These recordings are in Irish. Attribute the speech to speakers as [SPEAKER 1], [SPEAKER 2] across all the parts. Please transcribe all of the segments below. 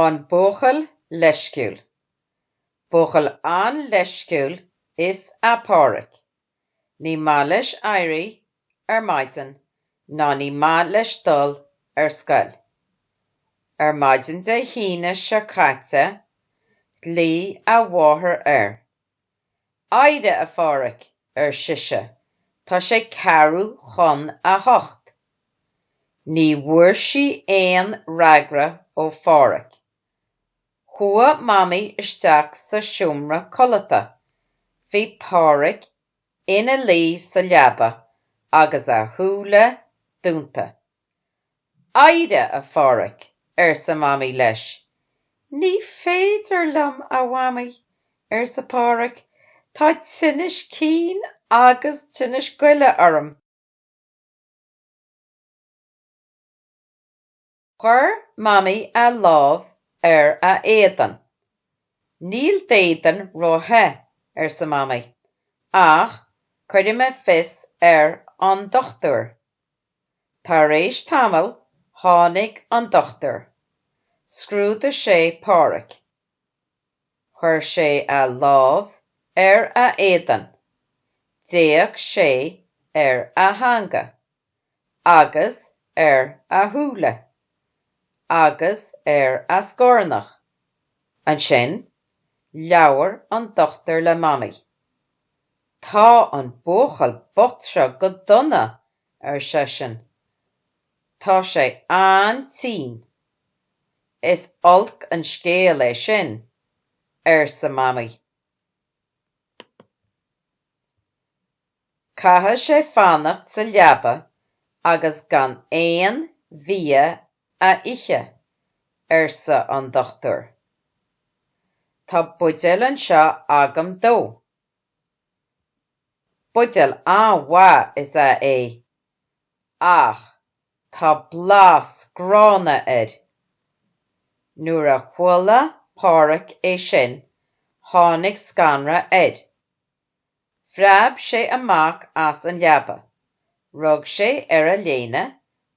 [SPEAKER 1] An buachaill leisciúil. Buachaill an-leisciúil is ea Páraic. Ní maith leis éirí ar maidin ná ní maith leis dul ar scoil. Ar maidin Dé hAoine seo caite ghlaoigh a mháthair air Éirigh, a Pháraic, ar sise, tá sé ceathrú chun a hocht. Ní bhfuair sí aon fhreagra ó Pháraic. Chuaigh Mamaí isteach sa seomra codlata. Bhí Páraic ina luí sa leaba agus a shúile dúnta. Éirigh, a Pháraic, arsa Mamaí leis. Ní féidir liom, a Mhamaí, arsa Páraic, tá tinneas cinn agus tinneas goile orm. Chuir Mamaí a lámh ar a éadan. Níl d'éadan róthe, arsa Mamaí, ach cuirfidh mé fios ar an dochtúir. Tar éis tamall tháinig an dochtúir. Scrúdaigh sé Páraic. Chuir sé a lámh ar a éadan. D'fhéach sé ar a theanga. Agus ar a shúile. Agus ar a scornach. Ansin, labhair an dochtúir le Mamaí. Tá an buachaill bocht seo go dona, ar seisean. Tá sé an-tinn. Is olc an scéal é sin, arsa Mamaí. Caithfidh sé fanacht sa leaba agus gan aon bhia a ithe, arsa an dochtúir. Tá buidéal anseo agam dó. Buidéal an-mhaith is ea é, ach tá blas gránna air. Nuair a chuala Páraic é sin, tháinig scanradh air. Phreab sé amach as an leaba, rug sé ar a léine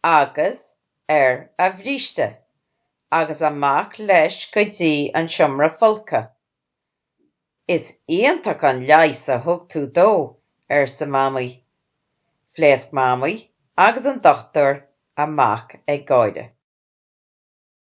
[SPEAKER 1] agus ar a bhríste agus amach leis go dtí an seomra folctha. Is iontach an leigheas a thug tú dó, arsa Mamaí. Phléasc Mamaí agus an dochtúir amach ag gáire.